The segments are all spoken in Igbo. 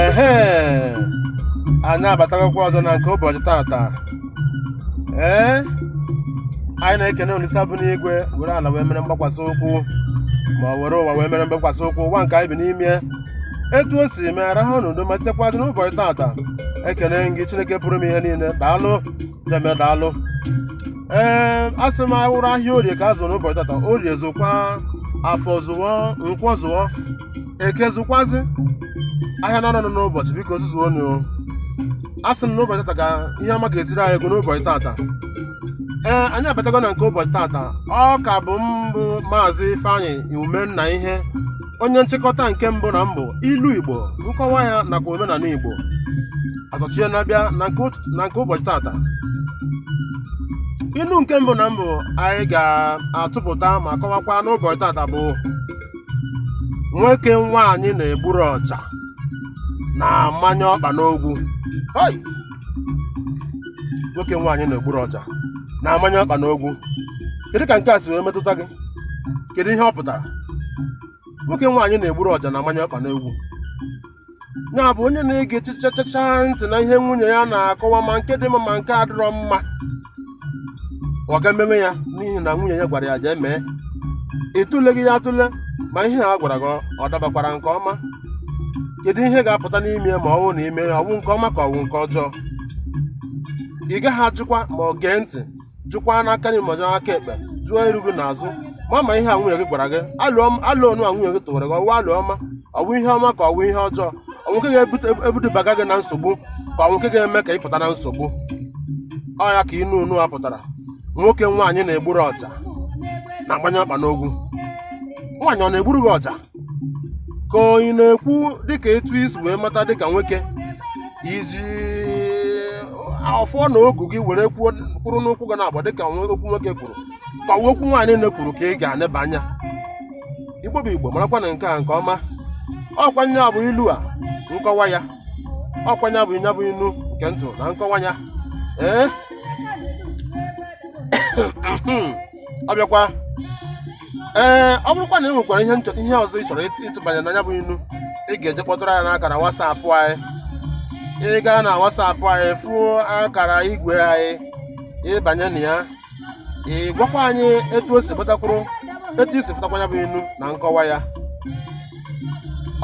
ehe anyị abatagokwa ọzọ na nke ụbọchị tata ee anyị na-ekene olisa bụ n'igwe were ala wee mere mgbakwasị ụkwụ ma ọ were ụwa wee mere mgbakwasị ụkwụ ụwa nke anyị bi n'ime etu o si mee arahụ n'udo ma tekwazị n'ụbọchị tata ekene m gị chineke pụrụ ime ihe niile daalụ deme daalụ ee asị m ọ wụrụ ahịa orie ka a zụrụ n'ụbọchị tata orie zụkwa afọ zụọ nkwọ zụọ eke zụkwazi ahịa naanọ nọ n'ụbọchị biko zụzuo nụ asị m n'ụbọchị tata ka ihe ọma ga-etiri anyị ego n'ụbọchị tata ee anyị abatago na nke ụbọchị tata ọ ka bụ m bụ maazị ifeanyị umennaihe onye nchịkọta nke mbụ na mbụ ilu igbo nkọwa ya nakwa omenala igbo azọchie na-abịa na nke ụt- na nke ụbọchị tata ilu nke mbụ na mbụ anyị ga-atụpụta ma kọwakwa n'ụbọchị tata bụ nwoke nwaanyị na-egburu ọja na-amanye ọkpa n'ogwu Hoi! nwoke nwaanyị na-egburu ọja na-amanye ọkpa n'ogwu kedu ka nke a si wee metụta gị kedu ihe ọ pụtara nwoke nwaanyị na-egburu ọja na-amanye ọkpa n'ogwu ya bụ onye na-egechichachacha ntị na ihe nwunye ya na-akọwa ma nke dị mma ma nke adịrọ mma ọ ga-emewe ya n'ihi na nwunye ya gwara ya jee mee ị tụleghị ya atụle ma ihe a gwara gị ọ dabakwara nke ọma kedu ihe ga-apụta n'ime ya ma ọ bụrụ na i mee ya ọ wụ nke ọma ka ọ wụ nke ọjọọ ị gaghị ajụkwa ma ọ gee ntị jụkwa n'aka nri ma jụọ aka ekpe jụọ iru gị na azụ ma ma ihe a nwunye gị gwara gị alo nụ a nwunye gị tụwara gị ọ wụ alo ọma ọ wụ ihe ọma ka ọ wụ ihe ọjọọ ọ wụ nke ga-ebudubaga gị na nsogbu ka ọ wụ nke ga-eme ka ị pụta na nsogbu ọ ya ka inu unu a pụtara nwoke nwaanyị na-egburu ọja na-agbanye ọkpa n'ogwu nwaanyị ọ na-egburu gị ọja ka ọ ị na-ekwu dịka etu i si wee mata dịka nwoke i ji ọfọ na ogu gị were kwụrụ n'ụkwụ gị na-agba dịka nwe- okwu nwoke kwuru ka ọ okwu nwaanyị na-ekwuru ka ị ga-aneba anya igbo bụ igbo marakwanụ nke a nke ọma ọkwa nya bụ ilu a nkọwa ya ọkwa nya bụ nya bụ inu nke mbụ na nkọwa ya ee ọ bịakwa ee ọ bụrụkwa na ị nwekwara ihe ihe ọzọ ị chọrọ ịtụbanye na nya bụ inu ị ga-eje kpọtụrụ anyị n'akara WhatsApp anyị ị gaa na WhatsApp anyị fụọ akara igwe anyị ị banye na ya ị gwakwa anyị etu o si pụtakwuru etu i si pụtakwa ya bụ inu na nkọwa ya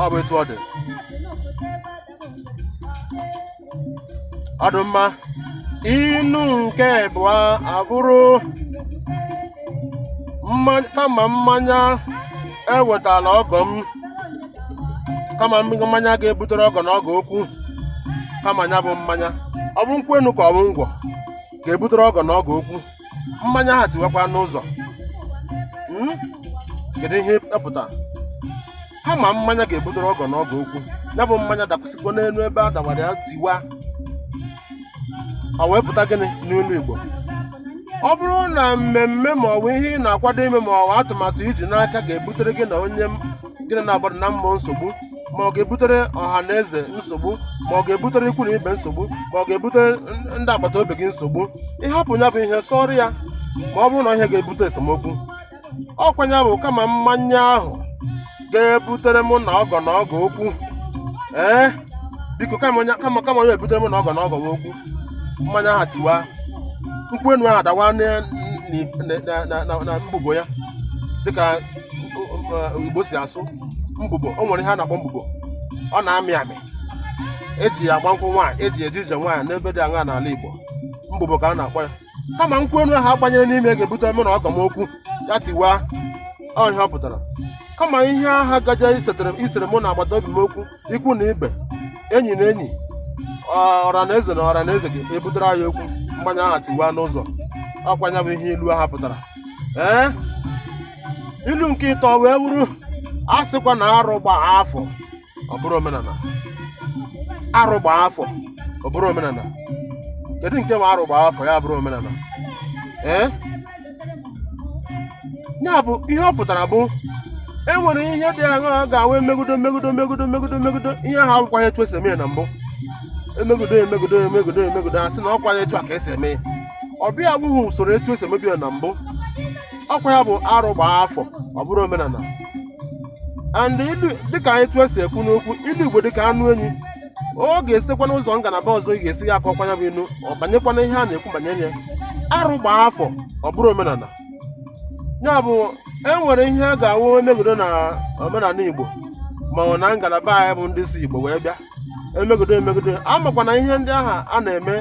ọ bụ etu ọ dị ọ dị mma inu nke abụọ a bụrụ mma- kama mmanya ewetala ọgọ m kama mmanya ga-ebutere ọgọ na ọgọ okwu kama ya bụ mmanya ọ bụ nkwụ enu ka ọ bụ ngwọ ga-ebutere ọgọ na ọgọ okwu mmanya aha tiwakwa n'ụzọ Hmm? kedu ihe ọ pụta kama mmanya ga-ebutere ọgọ na ọgọ okwu ya bụ mmanya dakwụsịkwa n'enu ebe a dawara ya tiwa ọ wee pụta gịnị n'ilu igbo ọ bụrụ na mmemme ma ọ bụ ihe ị na-akwado ime ma ọ bụ atụmatụ i ji n'aka ga-ebutere gị na onye m- gị na ya na-agbado na mma nsogbu ma ọ ga-ebutere ọha na eze nsogbu ma ọ ga-ebutere ikwu na ibe nsogbu ma ọ ga-ebutere n- ndị agbata obi gị nsogbu ị hapụ ya bụ ihe sọrọ ya ma ọ bụrụ na ihe ga-ebute esemokwu ọkwa nya bụ kama mmanya ahụ ga-ebutere mụ na ọgọ na ọgọ okwu ee biko kama ọ ya kama kama ọ ya-ebutere mụ na ọgọ na ọgọ m okwu mmanya ahụ tiwa nkwụ enu ahụ adawa na- na- na- na- na- na mbubo ya dịka igbo si asụ mbubo o nwere ihe a na-akpọ mbubo ọ na-amị amị e ji ya agba nkwụ nwaanyị e ji eje ije nwaanyị n'ebe dị aṅaa n'ala igbo mbubo ka a na-akpọ ya kama nkwụ enu ahụ a gbanyere n'ime ga-ebute mụ na ọgọ m okwu ya tiwa ọ ihe ọ pụtara kama ihe aha gaje isere mụ na agbata obi m okwu ikwu na ibe enyi na enyi ọra na eze na ọra na eze ga-ebutere anyị okwu mmanya aha tiwa n'ụzọ ọkwa nya bụ ihe ilu aha pụtara ee ilu nke ịtọ wee wụrụ a sịkwa na arụ gbaa afọ ọ bụrụ omenana arụ gbaa afọ ọ bụrụ omenana kedu nke wụ arụ gbaa afọ ya bụrụ omenana ee ya bụ ihe ọ pụtara bụ e nwere ihe dị aṅaa ga-awụ e megudo megudo megudo megudo megudo ihe ahụ awụkwaghị etu e si eme ya na mbụ e megudo e megudo e megudo e megudo a sị na ọkwaghị etu a ka e si eme ya ọ bịa abụghị usoro etu e si emebu ya na mbụ ọkwa ya bụ arụ gbaa afọ ọ bụrụ omenana and ilu dịka etu e si ekwu n'okwu ilu igbo dịka anụ enyi ọ ga-esitekwa n'ụzọ ngalaba ọzọ ị ga-esi ya akọkwa ya bụ inu ọ banyekwana ihe a na-ekwu banyere ya arụ gbaa afọ ọ bụrụ omenana ya bụ e nwere ihe a ga-awụ e megodo na omenana igbo ma ọ na ngalaba anyị bụ ndị si igbo wee bịa e megodo e megodo a makwa na ihe ndị ahụ a na-eme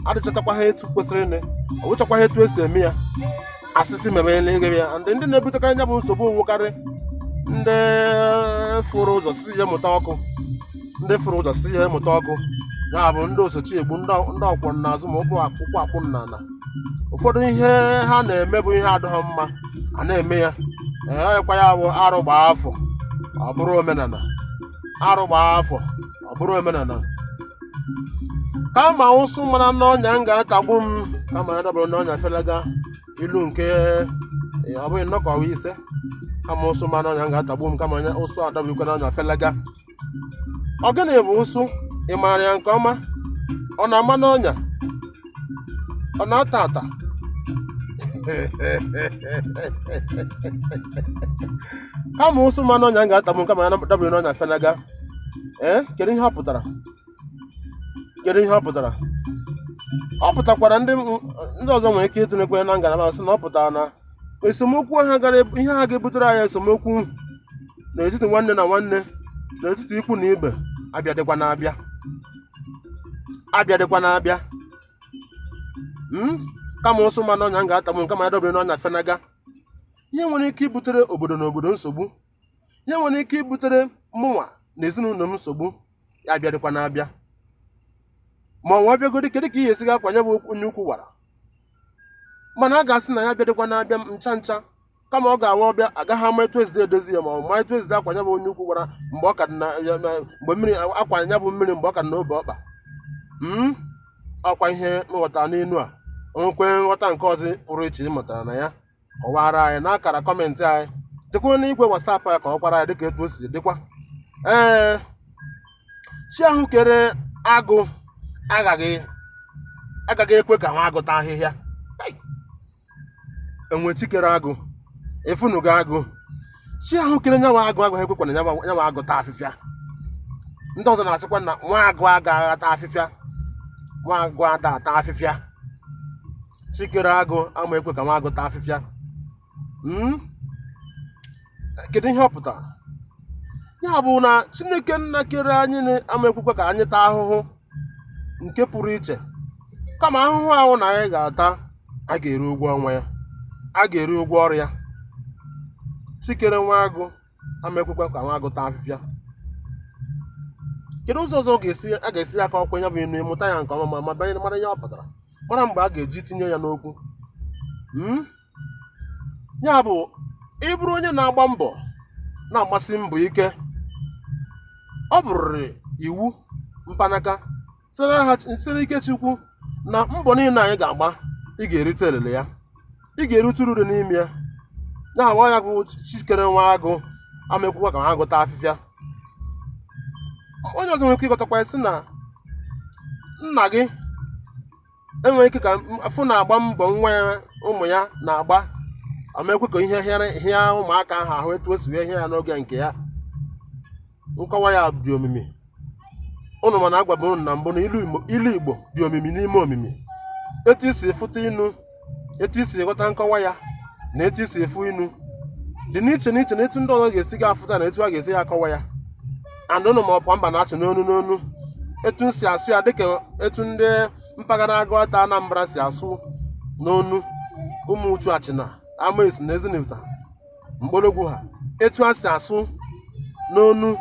adịchatakwaha etu kwesịrịnị ọ wụchakwaha etu e si eme ya asịsị mere n'eghere ya ndị ndị na-ebutekarị anya bụ nsogbu ọ wụkarị ndị ndị fụrụ ụzọ si ihe mụta ọkụ ya bụ ndị oso chi egbu ndị ọkwọ n'azụ ma ụkwụ ụkwụ akpụ n'ala ụfọdụ ihe ha na-eme bụ ihe adịghị mma a na-eme ya ọkwa ya bụ arụ gbaa afọ ọ bụrụ omenala arụ gbaa afọ ọ bụrụ omenala kama ụsụ mara n'ọnya m ga-atagbu m kama ya dọbiri n'ọnya felaga ilu nke ee, ọ bụghị nnọkọwa ise kama ụsụ mara n'ọnya m ga-atagbu m kama ụsụ a dọbirikwa n'ọnya felaga ọ gịnị bụ ụsụ ị maara ya nke ọma ọ na-ama n'ọnya ọ na-ata ata kama ụsụ ma n'ọnya m ga-atagbu m kama ya dọbiri n'ọnya fenaga ee kedu ihe ọ pụtara kedu ihe ọ pụtara ọ pụtakwara ndị m- ndị ọzọ nwere ike itinyekwa na ngalaba sị na ọ pụtara na esemokwu ha gara ebu- ihe ha ga-ebutere anyị esemokwu n'etiti nwanne na nwanne n'etiti ikwu na ibe abịadịkwana abịa abịadịkwana abịa hmm? kama ụsụ ma n'ọnya m ga-atagbu m kama ya dọbiri n'ọnya fenaga ihe nwere ike ibutere obodo na obodo nsogbu ihe nwere ike ibutere mụnwa na ezinụlọ m nsogbu ya abịadịkwana abịa ma ọ bịagodi kedu ka ihe esi ga-akwa nya bụ onye ukwu wara mana a ga-asị na ya abịadịkwana abịa ncha ncha kama ọ ga-awụ ọ bịa agaghị ama etu esi edozi ya ma ọ ma etu esi akwa ya bụ onye ukwu wara mgbe ọ ka na mgbe mmiri akwọ ya bụ mmiri mgbe ọ ka dị n'obe ọkpa hmm? ọkwa ihe nghọta n'inu a o nwekwa nghọta nke ọzọ pụrụ iche ị mụtara na ya kọwara anyị n'akara kọmentị anyị dịkwa na igwe wasapụ ya ka ọ kwara ya dịka etu o si dịkwa ee chi ahụ kere agụ agaghị agaghị ekwe ka nwa agụ taa ahịhịa e nwe chi kere agụ ị fụnụgo agụ chi ahụ kere nya wụ agụ agaghị ekwekwa na nya wụ agụ taa afịfịa ndị ọzọ na-asịkwa na nwa agụ agaghị ata afịfịa nwa agụ ada ata afịfịa chi kere agụ ama ekwe ka nwa agụ taa afịfịa hmm? kedu ihe ọ pụtara ya bụ na chineke nna kere anyị ama ekwekwa ka anyị taa ahụhụ nke pụrụ iche kama ahụhụ ahụ na anyị ga-ata a ga-eri ụgwọ ọnwa ya a ga-eri ụgwọ ọrụ ya chi kere nwa agụ ama ekwekwa ka nwa agụ taa afịfịa kedu ụzọ ọzọ ọ ga-esi a ga-esi akọwakwa ya bụ inu ị mụta ya nke ọma ma ma banyere mara ihe ọ pụtara mara mgbe a ga-eji tinye ya n'okwu Mm? ya bụ ịbụrụ onye na-agba mbọ na-agbasi mbọ ike ọ bụrịrị iwu mpanaka site ike Chukwu na mbọ niile anyị ga-agba ị ga-erite elele ya ị ga-erite uru dị n'ime ya ya agba ya bụ chi kere nwa agụ ama ekwekwa ka nwa agụ ta afịfịa onye ọzọ nwere ike ịghọtakwa sị na nna gị enwere ike ka afụ na-agba mbọ nwa ya ụmụ ya na-agba ama ekwe ka ihe hịa ụmụaka ahụ ahụ etu o si wee hịa ya n'oge nke ya nkọwa ya dị omimi ụnụ ma na agwaba ụnụ na mbụ na ilu igbo dị omimi n'ime omimi etu i si fụta inu etu i si ghọta nkọwa ya na etu i si afụ inu dị n'iche n'iche na etu ndị ọzọ ga-esi ga afụta na etu a ga-esi ya akọwa ya and ụnụ ma ọ bụ mba na-achị n'onu n'onu etu m si asụ ya dịka etu ndị mpaghara Agụata Anambra si asụ n'onu Ụmụchu Achịna Amesi na Ezinifite Mkpologwu ha etu a si asụ n'onu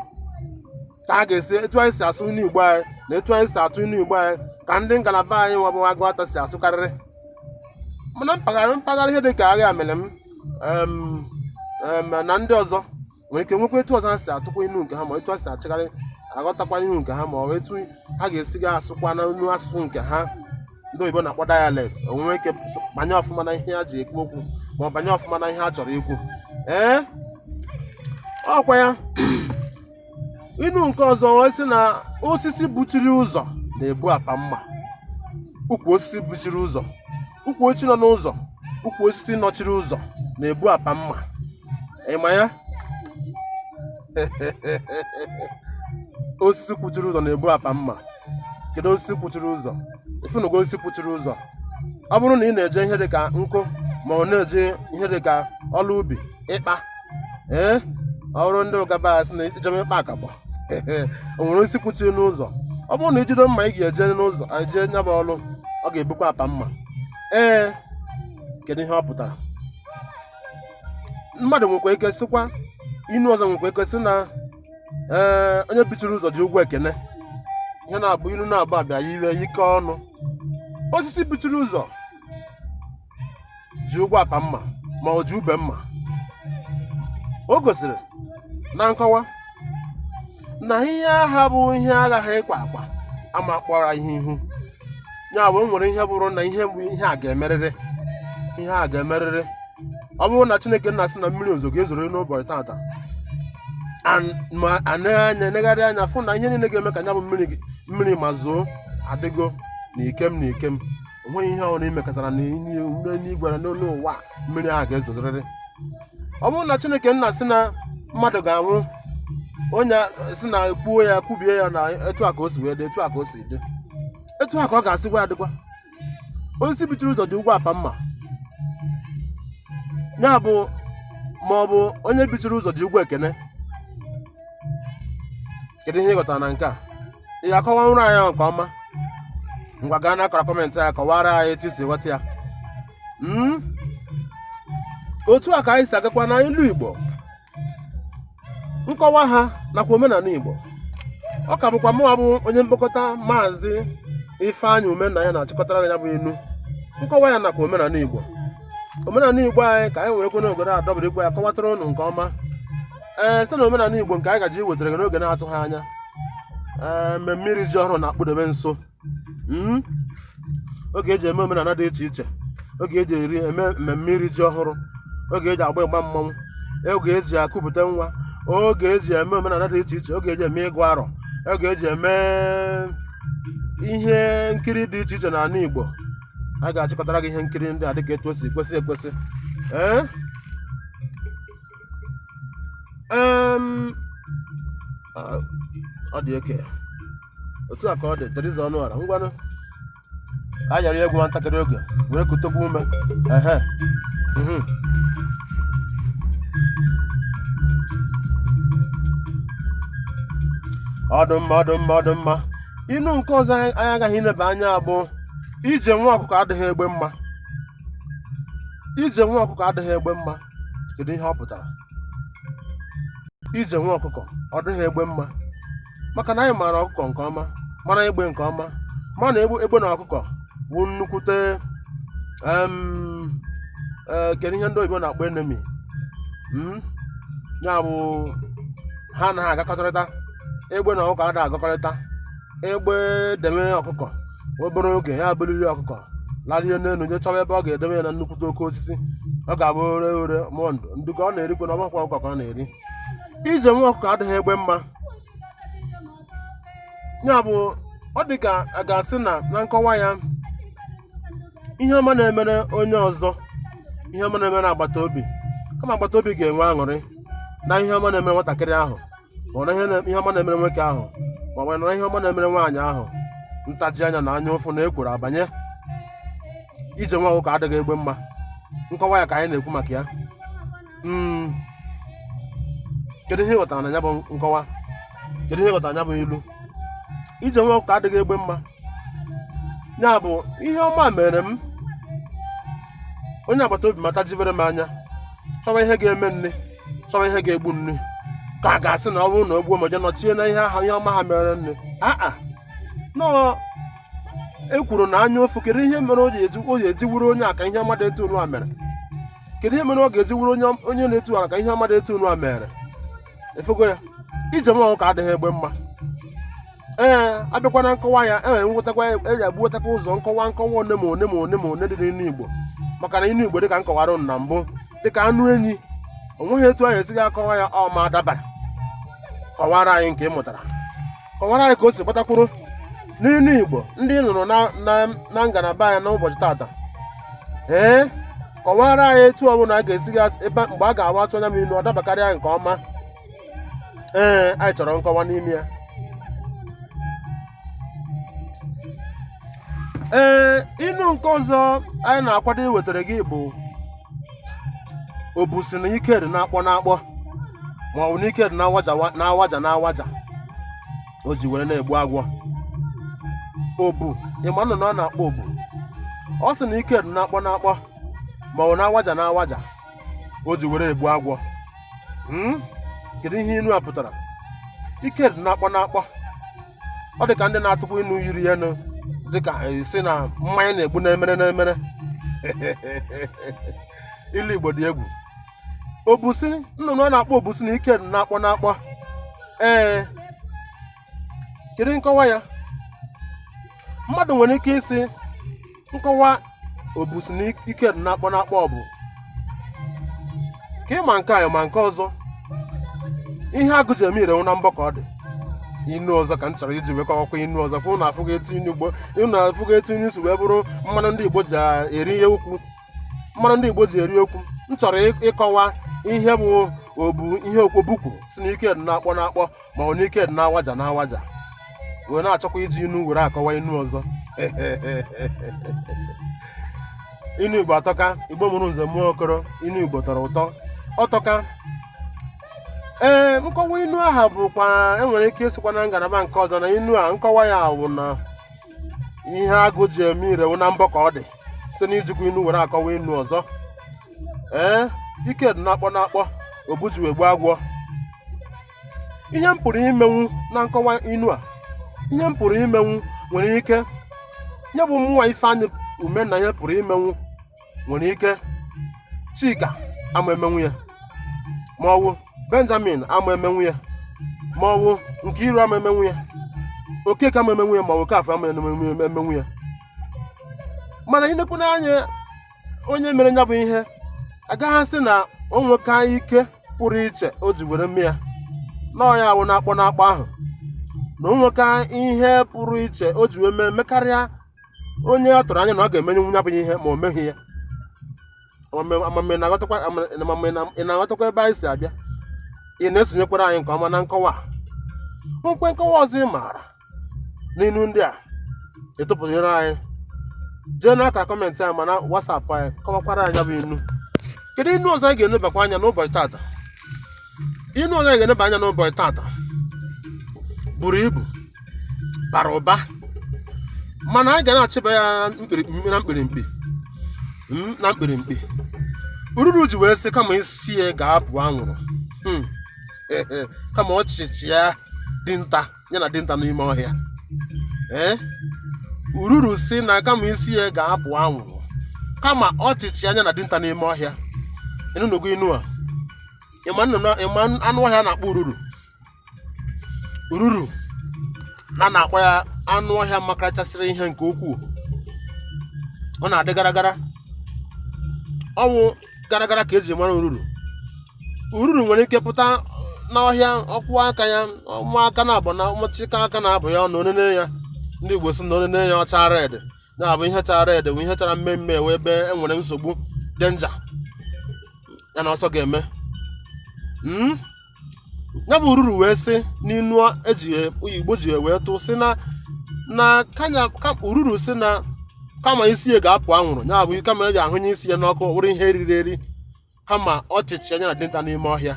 ka a ga-esi etu anyị si asụ ilu igbo anyị na etu anyị si atụ ilu igbo anyị ka ndị ngalaba anyị nwa bụ Agụata si asụkarịrị mana mpaghara mpaghara ihe dịka Aghamelum em, em, na ndị ọzọ nwere ike nwekwa etu ọzọ ha si atụkwa inu nke ha ma etu ha si achịgharị aghọtakwa inu nke ha ma ọ bụ etu ha ga-esi ga asụkwa na inu asụsụ nke ha ndị oyibo na-akpọ dialect o nwere ike so- banye ọfụma na ihe ha ji ekwu okwu ma ọ banye ọfụma na ihe ha chọrọ ikwu ee ọkwa ya inu nke ọzọ wee sị na osisi buchiri ụzọ na-ebu apa mma ukwu osisi buchiri ụzọ ukwu osisi nọ n'ụzọ ukwu osisi nọchiri ụzọ na-ebu apa mma ị ma ya osisi kwụchiri ụzọ na-ebu apa mma kedu osisi kwụchiri ụzọ ị fụnụgo osisi kwụchiri ụzọ ọ bụrụ na ị na-eje ihe dịka nkụ ma ọ na-eje ihe dịka ọrụ ubi ịkpa ee ọ bụrụ ndị Uga ba sị na ijebe ịkpa akabọ o nwere osisi kwụchiri n'ụzọ ọ bụrụ na i jide mma ị ga-eje n'ụzọ eje nya bụ ọrụ ọ ga-ebukwa apa mma ee kedu ihe ọ pụtara mmadụ nwekwa ike sịkwa inu ọzọ nwekwa ike sị na ee onye bichiri ụzọ ji ụgwọ ekene ihe na-abụ ilu na-abụ abịa ya iwe ike ọnụ osisi bichiri ụzọ ji ụgwọ apa mma ma ọ ji ube mma o gosiri na nkọwa na ihe ahụ bụ ihe aghaghị ịkwa akwa ama kpọrọ ihe ihu ya bụ o nwere ihe bụrụ na ihe bụ ihe a ga-emerịrị ihe a ga-emerịrị ọ bụrụ na chineke nna sị na mmiri ozo ga-ezoro n'ụbọchị tata an- ma a nee anya negharị anya fụ na ihe niile ga-eme ka nya bụ mmiri gị- mmiri ma zoo adịgo na ikem na ikem o nweghị ihe ọhụrụ imekọtara na n'igwe na n'olu ụwa mmiri ahụ ga-ezozorịrị ọ bụrụ na chineke nna sị na mmadụ ga-anwụ onye sị na kwuo ya kwubie ya na etu a ka o si wee dị etu a ka o si dị etu a ka ọ ga-esikwa adịkwa osisi bichiri ụzọ ji ụgwọ apa mma ya bụ ma ọ bụ onye bichiri ụzọ ji ụgwọ ekene kedu ihe ị ghọtara na nke a ị ga-akọwanwuru anyị ya nke ọma ngwa gaa n'akara comment anyị kọwara anyị etu i si ghọta ya Mm? otu a ka anyị si agakwa na ilu Igbo nkọwa ha nakwa omenala Igbo ọ ka bụkwa mụwa bụ onye mkpokọta maazị Ifeanyị Umenanya na-achịkọtara ya bụ ilu nkọwa ya nakwa omenala Igbo omenala Igbo anyị ka anyị werekwa n'obodo adọbirikwa ya kọwatara ụnụ nke ọma ee site na omenala Igbo nke anyị ga-eji wetara gị n'oge na-adịghị anya ee mmemme iri ji ọhụrụ na-akpụdebe nso hmm? oge eji eme omenala dị iche iche oge eji eri eme mmemme iri ji ọhụrụ oge eji agba ịgba mmanwụ oge eji ekupụta nwa oge eji eme omenala dị iche iche oge eji eme ịgụ arọ oge eji eme ihe nkiri dị iche iche n'ala Igbo a ga-achịkọtara gị ihe nkiri ndị a dịka etu o si kwesị ekwesị ee eh? um, ah, ọ dị okay otu a ka ọ dị Teresa Ọnụọra ngwanụ a yara ya egwu nwa ntakịrị oge were kutugodu ume ehe mhm. ọ dị mma ọ dị mma ọ dị mma inu nke ọzọ anyị ga-aga ileba anya bụ ije nwa ọkụkọ adịghị egbe mma ije nwa ọkụkọ adịghị egbe mma kedu ihe ọ pụtara ije nwa ọkụkọ ọ dịghị egbe mma maka na anyị maara ọkụkọ nke ọma mara egbe nke ọma ma na egbe egbe na ọkụkọ bụ nnukwute em, eh, kedu ihe ndị oyibo na-akpọ enemy Mm? ya bụ ha anaghị agakọtarịta egbe na ọkụkọ adịghị agakọrịta egbe deme ọkụkọ obere oge ya eburu ọkụkọ larie n'elu je chọwa ebe ọ ga-edebe ya na nnukwute oke osisi ọ ga-abụ ore ore mụọ ndụ ndị ka ọ na-erikwa na ọgbakwa ọkụkọ ka ọ na-eri ije nwa ọkụkọ adịghị egbe mma ya bụ ọ dị ka a ga-asị na na nkọwa ya ihe ọma na-emere onye ọzọ ihe ọma na-emere agbata obi kama agbata obi ga-enwe aṅụrị na ihe ọma na-emere nwatakịrị ahụ ma ọ bụ na ihe ọma na-emere nwoke ahụ ma ọ bụ na ihe ọma na-emere nwaanyị ahụ ntaji anya na anya ụfụ na ekworo abanye ije nwa ọkụkọ adịghị egbe mma nkọwa ya ka anyị na-ekwu maka ya hmm. kedu ihe ị ghọtara na ya bụ nkọwa kedu ihe ị ghọtara na ya bụ ilu ije nwa ọkụkọ adịghị egbe mma ya bụ ihe ọma mere m onye agbata obi mata jibere m anya chọwa ihe ga-eme nne chọwa ihe ga-egbu nne ka a ga-asị na ọ bụrụ na o gbuo ma je nọchie na ihe ahụ ihe ọma ha mere nne aa nọọ e kwuru na anya ụfụ kedu ihe mere o ji eji o ji eji wụrụ onye a ka ihe ọma dị etu unu a mere kedu ihe mere ọ ga-eji wụrụ onye onye na-etu ala ka ihe ọma dị etu unu a mere ị fụgo ya ije nwa ọkụkọ adịghị egbe mma ee abịakwa na nkọwa ya e nwetakwa eji agbuwetakwa ụzọ nkọwa nkọwa one ma one ma one ma one dị n'inu igbo maka na inu igbo dịka m kọwara unu na mbụ dịka anụ enyi o nweghị etu anyị esighị akọwa ya ọ ma dabara kọwara anyị nke ị mụtara kọwara anyị ka o si gbatakwuru n'inu igbo ndị ị nụrụ na- na- na ngalaba anyị n'ụbọchị tata ee kọwara anyị etu ọbụla a ga-esighị at- ebe mgbe a ga-awa atụ anya m inu ọ dabakarịa nke ọma ee anyị chọrọ nkọwa n'ime ya ee inu nke ọzọ anyị na-akwado iwetara gị bụ obu sị na ike dị n'akpọ n'akpọ ma ọ bụ na ike dị n'awaja wa- n'awaja n'awaja o ji were na-egbu agwọ obu ị ma nnụnụ a na-akpọ obu ọ sị na ike dị n'akpọ n'akpọ ma ọ bụ n'awaja n'awaja o ji were egbu agwọ Hmm? kedu ihe inu a pụtara ike dị n'akpọ n'akpọ ọ dị ka ndị na-atụkwa inu yiri ya nụ dị ka a sị na mmanya na-egbu n'emere n'emere ilu igbo dị egwu obu sị nnụnụ a na-akpọ obu sị na ike dị n'akpọ n'akpọ ee kedu nkọwa ya mmadụ nwere ike ịsị nkọwa obu sị na ike dị n'akpọ n'akpọ ọ bụ ka ị ma nke anyị ma nke ọzọ ihe agụ ji eme ire wụ na mbọ ka ọ dị inu ọzọ ka m chọrọ iji wee kọwakwa inu ọzọ ka ụnụ afụghị etu inu igbo ụnụ afụghị etu inu si wee bụrụ mmanụ ndị igbo ji eri ihe okwu mmanụ ndị igbo ji eri okwu m chọrọ ịkọwa ihe bụ obu ihe okwu obu kwuru sị na ike dị n'akpọ n'akpọ ma ọ na ike dị n'awaja n'awaja wee na-achọkwa iji inu were akọwa inu ọzọ inu igbo atọka igbo mụrụ nze mụọ okoro inu igbo tọrọ ụtọ ọ tọka ee nkọwa inu aha bụkwa e nwere ike ịsịkwa na ngalaba nke ọzọ na inu a nkọwa ya wụ na ihe agụ ji eme ire wụ na mbọ ka ọ dị site n'ijikwa inu were akọwa inu ọzọ ee ike dị n'akpọ n'akpọ obu ji wee gbuo agwọ ihe m pụrụ imenwu na nkọwa inu a ihe m pụrụ imenwu nwere ike ya bụ mmụwa ifeanyị umenna ihe pụrụ imenwu nwere ike chika ama emenwu ya ma ọ wụ benjamin ama emenwu ya ma ọ wụ nkiru ama emenwu ya okeke ama emenwu ya ma ọ wụ okafọ ama emenwu ya mana inekwu n'anya onye mere ya bụ ihe agaghị asị na o nweka ike pụrụ iche o ji were mee ya na ọ ya awụ na-akpọ n'akpọ ahụ na o nweka ihe pụrụ iche o ji wee mee mekarịa onye ọ tụrụ anya na ọ ga-eme ya bụ ihe ma o meghị ya amamihe ị na-aghọtakwa ebe anyị si abịa ị na-esonyekwara anyị nke ọma na nkọwa a. nkwe nkọwa ọzọ ị maara n'inu ndị a a tụpụnyere anyị jee n'akara kọmentị anyị ma na WhatsApp anyị kọwakwara anyị ya bụ inu kedu inu ọzọ anyị ga-enebakwa anya n'ụbọchị tata inu ọzọ anyị ga-eneba anya n'ụbọchị tata buru ibu bara ụba mana anyị ga na-achịba ya na mkpirimkpi ururu ji wee sị kama isi ya ga-apụ anwụrụ Hmm. kama ọ chịchịa dinta ya na dinta n'ime ọhịa ee ururu si na kama isi ya ga-apụ anwụrụ kama ọ chịchịa nya na dinta n'ime ọhịa ị nụnụgo inu a ị ma anụ ọhịa a na-akpọ ururu ururu na a na-akpọ ya anụ ọhịa makarachasịrị ihe nke ukwuu ọ na-adị gara gara ọ wụ gara gara ka e ji mara ururu ururu nwere ike pụta n'ọhịa ọ kwụ aka ya ụmụaka na-abụ na ụmụchịka aka na-abụ ya na o nene ya ndị Igbo si na o nene ya ọ chaa red na-abụ ihe chara red bụ ihe chara mmemme wụ ebe e nwere nsogbu danger ya na ọsọ ga-eme hmm? ya bụ ururu wee sị n'inu igbo ji wee tụ sị na ururu sị na kama isi ya ga-apụ anwụrụ ya bụ kama e ji ahụnye isi ya n'ọkụ wụrụ ihe e riri eri kama ọ chịchịa nya na dinta n'ime ọhịa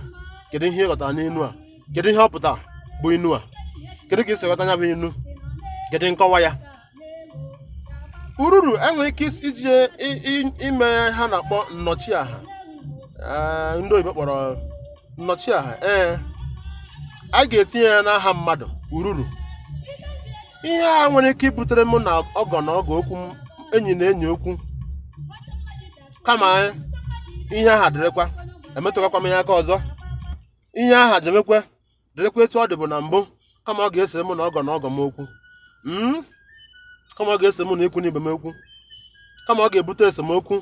kedu ihe ị ghọtara n'inu a kedu ihe ọ pụtara bụ inu a kedu ka ị si ghọta ya bụ inu kedu nkọwa ya ururu e nwere ike iji ime ihe a na-akpọ nnọchiaha Eh, ndị oyibo kpọrọ nnọchiaha ee a ga-etinye ya n'aha mmadụ ururu ihe a nwere ike ibutere mụ na ọgọ na ọgọ okwu m- enyi na enyi okwu kama ihe aha dịrịkwa emetụkakwa m ya aka ọzọ ihe aha jemekwa dịrịkwa etu ọ dịbu na mbụ kama ọ ga-ese mụ na ọgọ na ọgọ m okwu hmm? kama ọ ga-ese mụ na ikwu n'ibe m okwu kama ọ ga-ebute esemokwu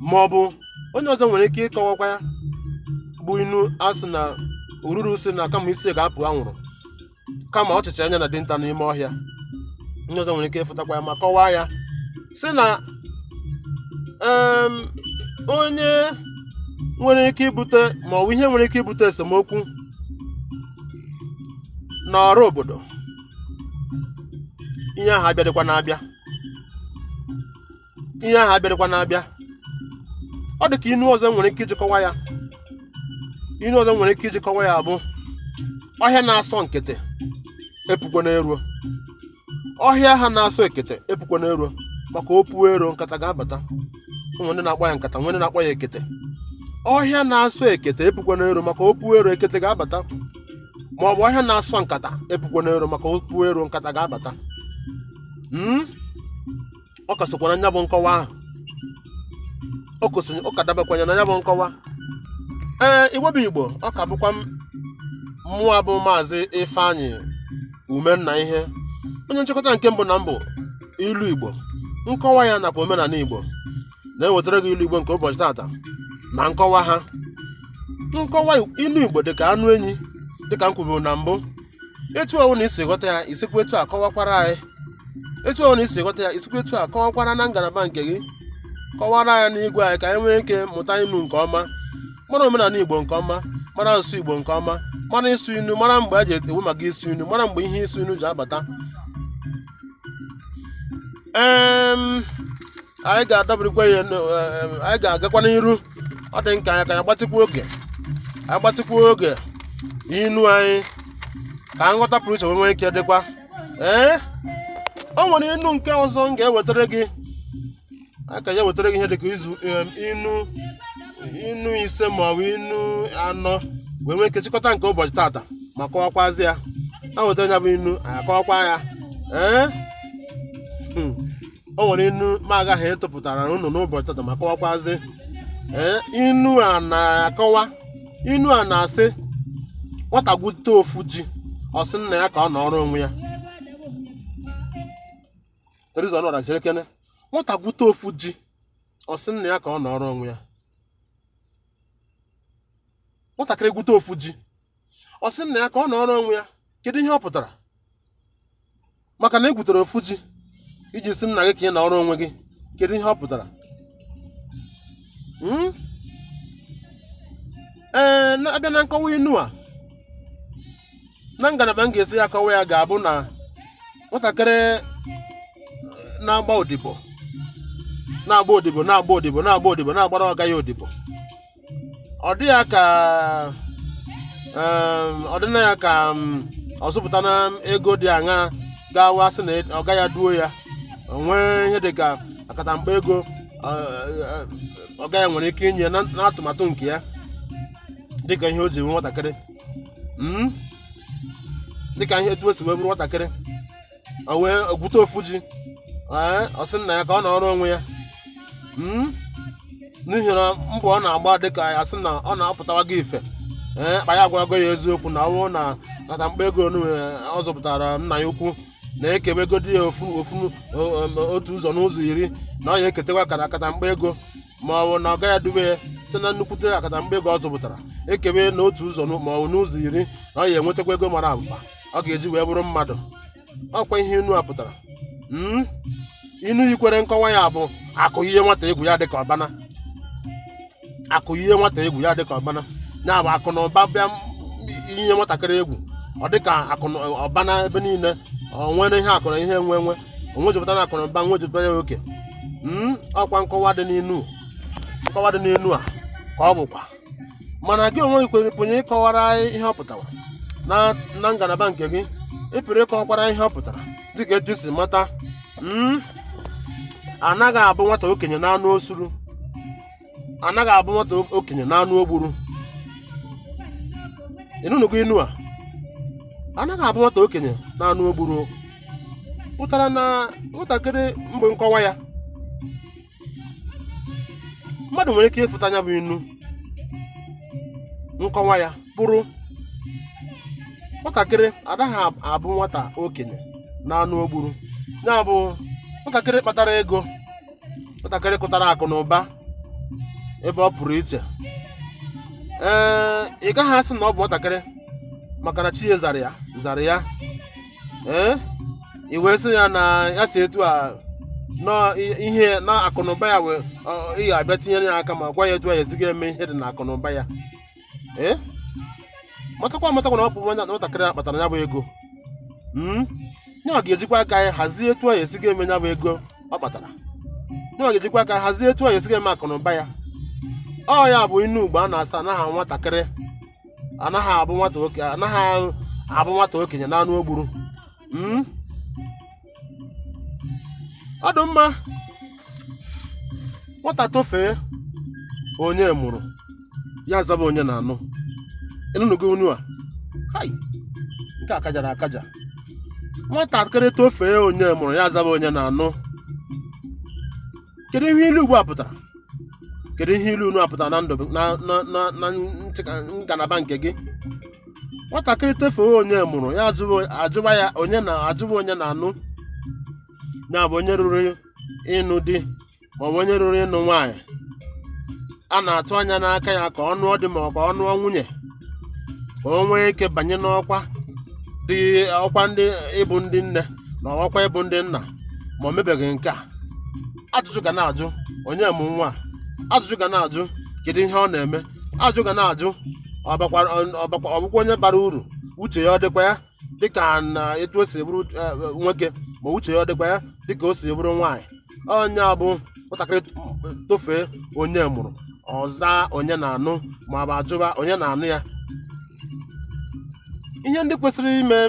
ma ọ bụ onye ọzọ nwere ike ịkọwakwa ya bụ inu a sị na ururu sị na kama isi ga-apụ anwụrụ kama ọchịcha anya na dinta n'ime ọhịa onye ọzọ nwere ike ịfụtakwa ya ma kọwaa ya sị na em, onye nwere ike ibute ma ọ bụ ihe nwere ike ibute esemokwu n'ọrụ obodo ihe ahụ abịadịkwana abịa ihe ahụ abịarịkwana abịa ọ dị ka inu ọzọ nwere ike iji kọwaa ya inu ọzọ nwere ike iji kọwaa ya bụ ọhịa na-asọ ekete epukwana eruo ọhịa ha na-asọ ekete epukwana eruo maka o puo ero nkata ga-abata nwere ndị na-akpọ ya nkata nwere ndị na-akpọ ya ekete ọhịa na-asọ ekete epukwana ero maka o puo ero ekete ga-abata ma ọ bụ ọhịa na-asọ nkata epukwana ero maka o puo ero nkata ga-abata Hmm? ọ ka sokwa na nya bụ nkọwa ahụ ọ ka dabekwanye na nya bụ nkọwa ee igbo bụ igbo ọ ka bụkwa m mụwa bụ maazị ifeanyị umennaihe onye nchịkọta nke mbụ na mbụ ilu igbo nkọwa ya nakwa omenala igbo na-ewetara gị ilu igbo nke ụbọchị tata na nkọwa ha nkọwa ilu igbo dịka anụ enyi dịka m kwuburu na mbụ etu ọ wụna i si ghọta ya i sikwa etu a kọwakwara anyị etu ọ wụna i si ghọta ya i sikwa etu a kọwakwara na ngalaba nke gị kọwara ya n'igwe anyị ka anyị nwee ike mụta inu nke ọma mara omenala igbo nke ọma mara asụsụ igbo nke ọma mara ịsụ inu mara mgbe e ji ekwu maka ịsụ inu mara mgbe ihe ịsụ inu ji abata anyị ga-adọbirikwa ya anyị ga-agakwa n'iru ọ dị ka anyị ka anyị gbatịkwa oge anyị gbatịkwa oge inu anyị ka nghọta pụrụ iche wee nwee ike dịkwa ee o nwere inu nke ọzọ m ga-ewetara gị ka anyị wetara gị ihe dịka izu inu inu ise ma ọ bụ inu anọ wee nwee ike chịkọta nke ụbọchị tata ma kọwakwazi ya e weta ya bụ inu anyị akọwakwa ya ee hmm. o nwere inu m ga-aga etopụtara unu n'ụbọchị tata ma kọwakwazi ee inu a na-akọwa inu a na-asị nwata gwute ofu ji ọ sị nna ya ka ọ nọrọ onwe ya nụrụkene nwata gwute ofu ji ọ sị nna ya ka ọ nọrọ onwe ya nwatakịrị gwute ofu ji ọ sị nna ya ka ọ nọọrọ onwe ya kedu ihe ọ pụtara maka na i gwutere ofu ji i ji sị nna gị ka ị nọọrọ onwe gị kedu ihe ọ pụtara hmm? ee a bịa na nkọwa inu a na ngalaba m ga-esi ya akọwa ya ga-abụ na nwatakịrị na-agba odibo na-agba odibo na-agba odibo na-agba odibo na-agbara ọga ya odibo ọ dị ya ka em, ọ dị na ya ka m, ọ zụpụtana ego dị aṅa gawa sị na ọga ya duo ya o nwee ihe dị ka akatamkpa ego ọ, ọ, ọga ya nwere ike inye na na atụmatụ nke ya dịka ihe o ji wee nwatakịrị Mm? dịka ihe etu o si wee bụrụ nwatakịrị o wee gwute ofu ji ee ọ sị nna ya ka ọ nọọrọ onwe ya Mm? n'ihi na mbọ ọ na-agba dịka ya sị na ọ na-apụtawa gị ife ee kpa ya agwarago ya eziokwu na ọ bụrụ na akatamkpa ego onu ọ zụpụtara nna ya ukwu na e kewegodi ya ofu ofu o- o- otu ụzọ n'ụzọ iri na ọ ya eketekwa kata akatamkpa ego ma ọ bụ na ọga ya dube ya site na nnukwute akatamkpa ego ọ zụpụtara e kebe na otu ụzọ n'ụ- ma ọ bụ n'ụzọ iri na ọ ya enwetakwa ego mara abụba ọ ga-eji wee bụrụ mmadụ ọkwa ihe inu a pụtara Mm? inu yikwere nkọwa ya bụ akụ yie nwata egwu ya dịka ọbana akụ yie nwata egwu ya dịka ọbana ya bụ akụ na ụba bịa m- yie nwatakịrị egwu ọ dịka akụ na ọbana ebe niile o nwere ihe akụ na ihe enwe enwe o nwejupụta na akụnụba nwejupụta ya oke mm, ọkwa nkọwa dị n'inu nkọwa dị n'inu a ka ọ bụkwa mana gị onwe gị kwere pụnye ịkọwara anyị ihe ọ pụtara na na ngalaba nke gị ị pụrụ ịkọwakwara ihe ọ pụtara dịka etu i si mata mm, anaghị abụ nwata okenye na anụ osuru anaghị abụ nwata okenye na anụ o gburu ị nụnụgo inu a anaghị abụ nwata okenye na anụ o gburu pụtara na nwatakịrị mgbe nkọwa ya mmadụ nwere ike ịfụta nya bụ inu nkọwa ya bụrụ nwatakịrị anaghị abụ nwata okenye na anụ o gburu ya bụ nwatakịrị kpatara ego nwatakịrị kụtara akụ na ụba ebe ọ pụrụ iche ee ị gaghị asị na ọ bụ nwatakịrị maka na chi ya zara ya zara ya ee i wee sị ya na ya si etu a nọ i- ihe na akụnụba ya wee ọ- ị ga-abịa tinyere ya aka ma gwa ya etu a ya esi ga-eme ihe dị na akụnụba ya ee matakwa amatakwa na ọ bụ nwatakịrị a kpatara ya bụ ego hmm? nyawa ga-ejikwa aka ya hazie etu ya esi ga-eme ya bụ ego ọ kpatara nyawa ga-ejikwa aka hazie etu ya esi ga-eme akụ na ụba ya ọ ya bụ inu Igbo a na-asị anaghị nwatakịrị anaghị abụ nwata oke ya na anụ o gburu hmm? ọ dị mma nwata tofee onye mụrụ ya zaba onye na-anụ ị nụnụgo inu a hai nke a kajara akaja nwatakịrị tofee onye mụrụ ya zaba onye na-anụ kedu ihe ilu Igbo a pụtara kedu ihe ilu inu a pụtara na ndụ na na na na nchịka- ngalaba nke gị nwatakịrị tofee onye mụrụ ya ajụwa ya onye na ajụwa onye na anụ ya bụ onye ruru ịnụ di maọbụ onye ruru ịnụ nwaanyị a na-atụ anya n'aka ya ka ọ nụọ di ma ọ ka ọ nụọ nwunye ka o nwee ike banye n'ọkwa dị ọkwa ndị ịbụ ndị nne na ọkwa ịbụ ndị nna ma o mebeghị nke a ajụjụ ga na-ajụ onye mụ nwa ajụjụ ga na-ajụ kedu ihe ọ na-eme ajụ ga na-ajụ ọ bakwara- ọ- ọ bakwa- ọ bụkwa onye bara uru uche ya ọ dịkwa ya dịka na etu o si bụrụ eh, nwoke ma uche ya ọ dịkwa ya dịka o si bụrụ nwaanyị ọ ya bụ nwatakịrị tofee onye mụrụ ọ zaa onye na-anụ ma ọ bụ ajụba onye na-anụ ya ihe ndị kwesịrị ime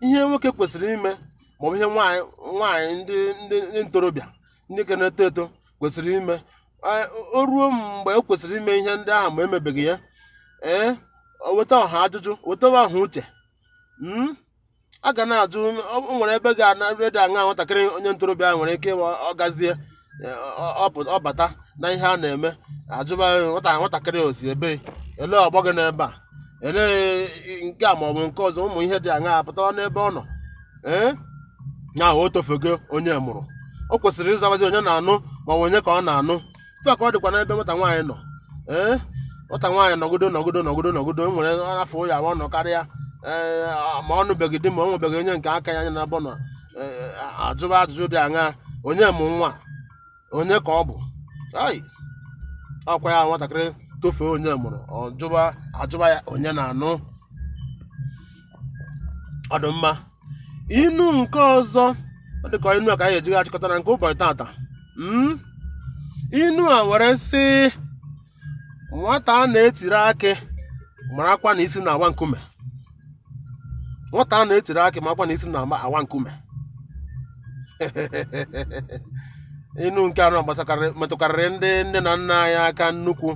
ihe nwoke kwesịrị ime maọbụ ihe nwaanyị nwaanyị ndị ndị ndị ntorobịa ndị ka na-eto eto kwesịrị ime o ruo mgbe o kwesịrị ime ihe ndị ahụ ma emebeghị ya o weta ọha ajụjụ wetawa ọha uche hmm? a ga na-ajụ o nwere ebe ga-anarị dị aṅa nwatakịrị onye ntorobịa ahụ nwere ike ọ gazie ọ bata na ihe a na-eme ajụba nwata nwatakịrị o si ebe ele ọgbọ gị n'ebe a elee nke a maọbụ nke ọzọ ụmụ ihe dị aṅa apụtawa n'ebe ọ nọ ee ya o tofego onye mụrụ o kwesịrị ịzabazi onye na-anụ maọbụ onye ka ọ na-anụ etu a ka ọ dịkwa n'ebe nwata nwaanyị nọ ee nwata nwaanyị nọgodo nọgodo nọgodo nọgodo e nwere afọ ya ọ nọ karịa ee ma ọ nụbeghị di ma ọ nwebeghị onye nke aka ya anya na abọ nọ ee, ajụba ajụjụ dị aṅa onye mụ nwa onye ka ọ bụ ai ọkwa ya nwatakịrị tofee onye mụrụ ọ jụba ajụba ya onye na-anụ ọ dị mma inu nke ọzọ ọ dị ka inu a ka anyị eji ga-achịkọta na nke ụbọchị tata Mm? inu a were sị nwata a na-etiri akị marakwa na isi na-awa nkume nwata a na-etiri akị marakwa na isi na-awa nkume inu nke anọ metụkarịrị ndị nne na nna anyị aka nnukwu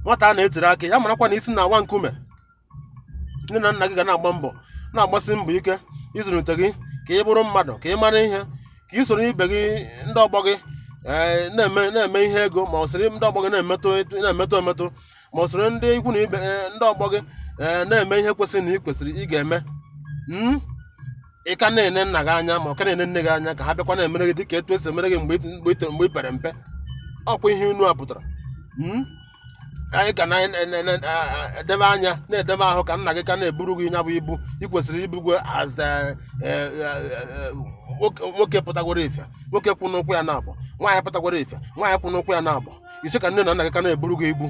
nwata a na-etiri akị ya marakwa na isi na-awa nkume nne na nna gị ga na-agba mbọ na-agbasi mbọ ike ịzụlite gị ka ị bụrụ mmadụ ka ị mara ihe ka ị soro ibe gị ndị ọgbọ gị ee, na-eme na-eme ihe ego ma ọ soro ndị ọgbọ gị na-emetụ etu- na-emetụ emetụ ma ọ soro ndị ikwu na ibe ee, ndị ọgbọ gị ee, na-eme ihe kwesịrị na ị kwesịrị ị ga-eme Mm? ị ka na-ene nna gị anya ma ọ ka na-ene nne gị anya ka ha bịakwa na-emere gị dịka etu esi emere gị mgbe ị- mgbe ị toro- mgbe ị pere mpe ọkwa ihe inu a pụtara Mm? ka anyị ka na-edebe anya na-edebe ahụ ka nna gị ka na-eburu gị ya bụ ibu ị kwesịrị ibugwo as eh, eh, eh, nwoke nwoke pụtagworo ife nwoke kwụ n'ụkwụ ya naabọ nwaanyị pụtagworo ife nwaanyị kwụ n'ụkwụ ya naabọ ị sị ka nne na nna gị ka na-eburu gị ibu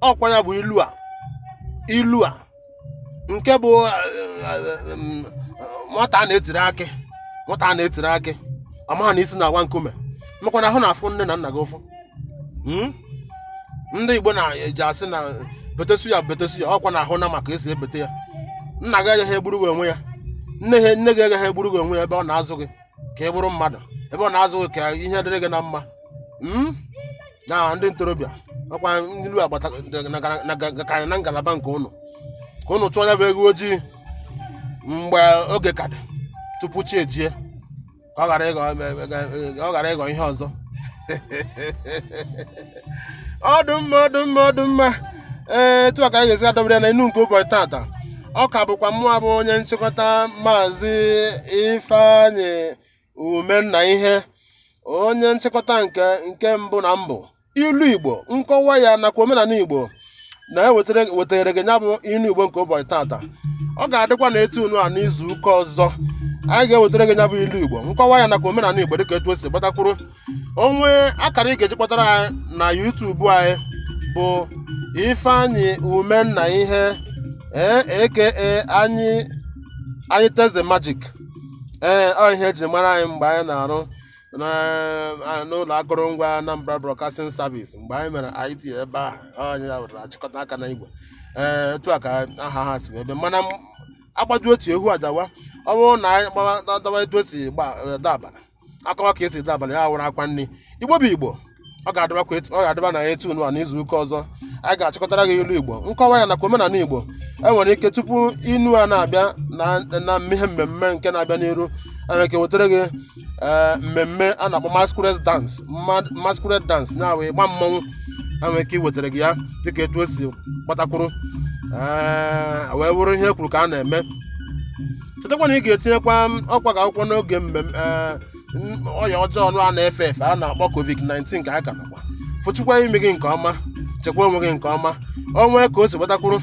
ọkwa ya bụ ilu a ilu a nke bụ eh, eh, eh, mm, nwata a na-etiri akị nwata a na-etiri akị ọ maha na isi na-awa nkume makwana ahụ na-afụ nne na nna gị ụfụ hmm? ndị Igbo na-eji asị na betesu ya betesu ya ọkwa na ahụ na maka esi ebete ya nna gị agaghị egburu gị onwe ya nne gị agaghị egburu gị onwe ya ebe ọ na-azụ gị ka ị bụrụ mmadụ ebe ọ na-azụ ka ihe dịrị gị na mma Mm? na ndị ntorobịa ọkwa ndị ilu a gbata na- na- na- gakarị na ngalaba nke ụnụ ka ụnụ chọọ ya bụ eghu ojii mgbe oge ka dị tupu chi ejie ka ọ ghara ịghọ ọ ghara ịghọ ihe ọzọ ọ dụ mma ọ dụ mma ọ dụ mma ee etu a ka anyị ga-esi adọbere ya na inu nke ụbọchị tata ọ ka bụkwa mụa bụ onye nchịkọta maazị ifeanyị umennaihe onye nchịkọta nke nke mbụ na mbụ ilu igbo nkọwa ya nakwa omenala igbo na-ewetara wetara gị ya bụ ilu igbo nke ụbọchị tata ọ ga-adịkwa na etu unu a n'izu ụka ọzọ anyị ga-ewetara gị ya bụ ilu igbo nkọwa ya nakwa omenala igbo dịka etu o si gbata kwụrụ onwe akara ị ga-eji kpọtara anyị na YouTube anyị bụ ifeanyị umennaihe ee aka anyị anyị teze magic ee ọ ihe eji mara anyị mgbe anyị na-arụ n'ụlọ akụrụngwa Anambra Broadcasting Service mgbe anyị mere IT ebe ahụ anyị ya wetara achịkọta aka na igwe ee etu a ka aha ha si wee bịa mana m- agbaju otu ehu adawa ọ bụrụ na anyị gbadawa etu o si gba- dabara akọwa ka esi dabara ya wụrụ akwa ndị igbo bụ igbo ọ ga-adịbakwa etu- ọ ga-adịba na etu nwa n'izu ụka ọzọ anyị ga-achịkọtara gị ilu igbo nkọwa ya nakwa omenala igbo e nwere ike tupu inu a na-abịa na na ihe mmemme nke na-abịa n'iru e nwere ike wetara gị ee, mmemme a na-akpọ masquerade dance Ma- masquerade dance na-awụ ịgba mmọnwụ e nwere ike iwetara gị ya dịka etu o si gbata kwụrụ ee, wee bụrụ ihe e kwuru ka a na-eme chetakwa na ị ga-etinyekwa ịkwọ aka akwụkwọ n'oge mmemme ee, ọya ọjọọ ọnụ a na-efe efe a na-akpọ covid-19 kwọọ aka nakwa fụchikwa imi gị nke ọma chekwa onwe gị nke ọma o nwee ka o si gbata kwụrụ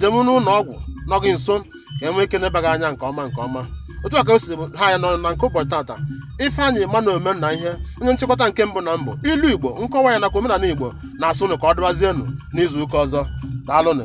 jeme n'ụlọ ọgwụ nọ gị nso ka e nwee ike nebe gị anya nke ọma nke ọma otu a ka o si ha ya nọ na nke ụbọchị tata ifeanyị emmanuel umennaihe onye nchịkọta nke mbụ na mbụ ilu igbo nkọwa ya nakwa omenala igbo na-asị ụnụ ka ọ dịwazienụ n'izu ụka ọzọ daalụnụ